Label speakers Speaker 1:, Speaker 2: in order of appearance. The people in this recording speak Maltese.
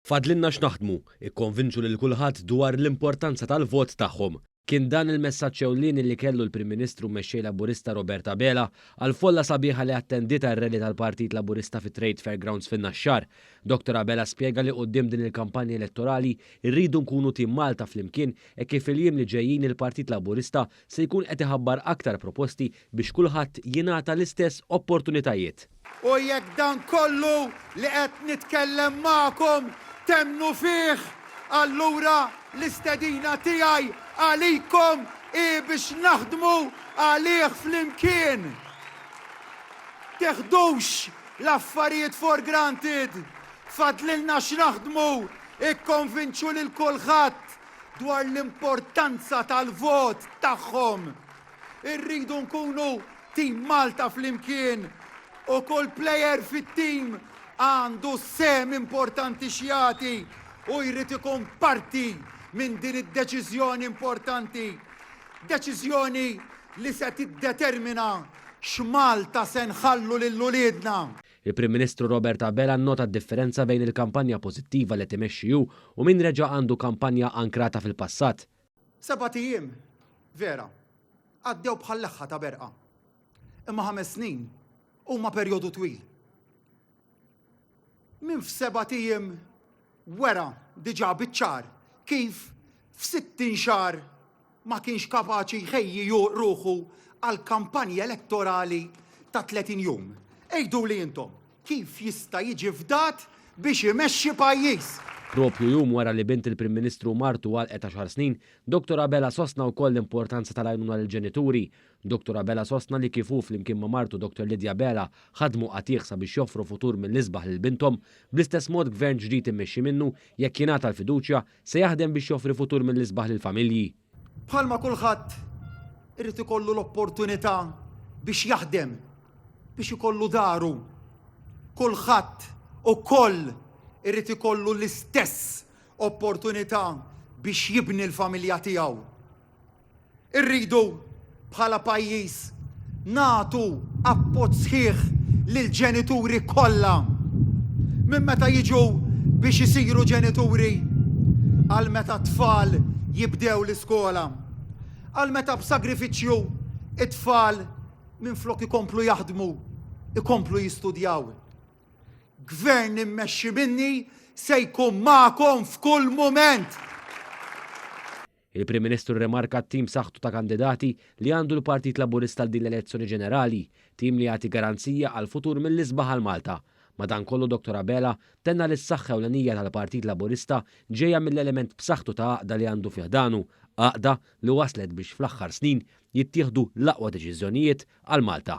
Speaker 1: Fadlilna x'naħdmu, ikkonvinċu lil kulħadd dwar l-importanza tal-vot tagħhom. Kien dan il-messaġġ ewlieni li kellu l-Prim Ministru mmexxej Laburista Robert Abela għall-folla sabiħa li attendiet għar-rally tal-Partit Laburista fit-Trade Fair Grounds fin-Naxxar. Dottor Abela spjega li quddiem din il-kampanja elettorali rridu nkunu tim Malta flimkien hekk kif il-jiem li ġejjin il-Partit Laburista se jkun qed iħabbar aktar proposti biex kulħadd jingħata l-istess opportunitajiet. U jekk
Speaker 2: dan kollu li qed nitkellem magħkom temmnu fih, allura l-istedina tiegħi għalikom hi biex naħdmu għalih flimkien. Tiħdux l-affarijiet for granted. Fadlilna x'naħdmu, ikkonvinċu lil kulħadd dwar l-importanza tal-vot tagħhom. Irridu nkunu tim Malta flimkien u kull plejer fit-tim għandu sem importanti xjati u jrid ikun parti minn din id-deċiżjoni importanti. Deċiżjoni li se tiddetermina x'Malta se nħallu lil uliedna. Il-Prim Ministru
Speaker 1: Robert Abela nnota d-differenza bejn il-kampanja pożittiva li qed imexxi hu u min reġa' għandu kampanja ankrata fil-passat. Sebat ijiem,
Speaker 2: vera, għaddew bħal leħħa ta' berqa. Imma ħames snin huma perjodu twil. Min f'sebat ijiem wera diġà biċ-ċar kif f'sittin xahar ma kienx kapaċi jħejji ruħu għall-kampanja elettorali ta' 30 jum. Għiduli intom, kif jista' jiġi fdat biex imexxi pajjiż? Proprju jum
Speaker 1: wara li bint il-Prim Ministru u martu għalqet għaxar snin, Dottor Abela sostna wkoll l-importanza tal-għajnuna lill-ġenituri. Dottor Abela sostna li kif hu flimkien ma' martu Dottor Lydia Abela ħadmu qatigħ sabiex joffru futur mill-isbaħ lil binthom, bl-istess mod Gvern ġdid immexxi minnu, jekk jingħata l-fiduċja, Se jaħdem biex joffri futur mill-isbaħ lill-familji. Bħalma
Speaker 2: kulħadd irid ikollu l-opportunità biex jaħdem biex ikollu daru, kulħadd ukoll irid ikollu l-istess opportunità biex jibni l-familja tiegħu. Irridu, bħala pajjiż, nagħtu appoġġ sħiħ lill-ġenituri kollha, minn meta jiġu biex isiru ġenituri għal meta t-tfal jibdew l-iskola, għal meta b'sagrifiċċju t-tfal minflok ikomplu jaħdmu, ikomplu jistudjaw. Gvern immexxi minni se jkun magħkom f'kull mument! Il-Prim
Speaker 1: Ministru rrimarka t-tim b'saħħtu ta' kandidati li għandu l-Partit Laburista għal din l-elezzjoni ġenerali, tim li jagħti garanzija għall-futur mill-isbaħ għal Malta. Madankollu Dottor Abela tenna li s-saħħa ewlenija tal-Partit Laburista ġejja mill-element b'saħħtu ta' għaqda li għandu fi ħdanu, għaqda li wasslet biex fl-aħħar snin jittieħdu l-aqwa deċiżjonijiet għal Malta.